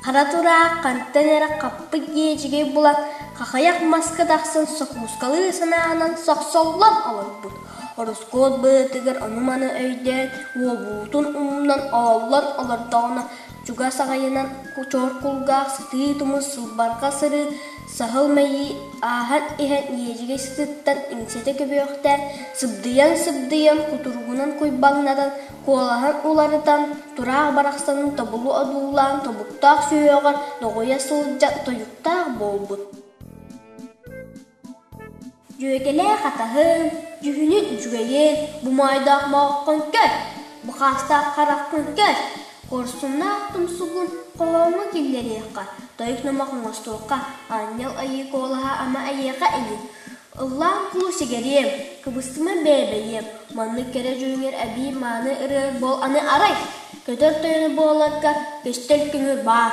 Хара тураах хантан эрэ хаппыт иэдьигэй булан хахайах маска тахсан сокуускалыы санаанан сохсоллон олорбут. Ороскуот быатыгар ону-маны өйдөөн, уолбутун умнан ооллон олордоҕуна чугас аҕайынан чочор кулгаах сытыы тумус сылбарҕа сырыы саһыл мэйии ааһан иһэн ньиэдьигэй сытыттан иҥсэтэ көбүөхтээн сыбдыйан сыбдыйан кутуругунан куйбаҥнатан куолаһын уларытан тураах барахсанын тобулу одуулаан тобуктаах сүһүөҕэр доҕуйа сылдьан тойуктаах буолбут Дьүөкэлээх атаһын, дьүһүнүн үчүгэйин, бумаайдаах мооххун көр, бакаастаах хараххын көр, хорсуннаах тумсугун хоһооҥҥо киллэриэххэ, тойук номох оҥостуохха, аанньал айыы куолаһа ама эйиэхэ ини. Ыллаан куу сигэриэм, кыбыстыма бээбэйиэм, маннык кэрэ дьүһүҥэр эбии мааны ырыаҥ буол аны арай, көтөр тойоно буоларгар көстөр көҥүл баар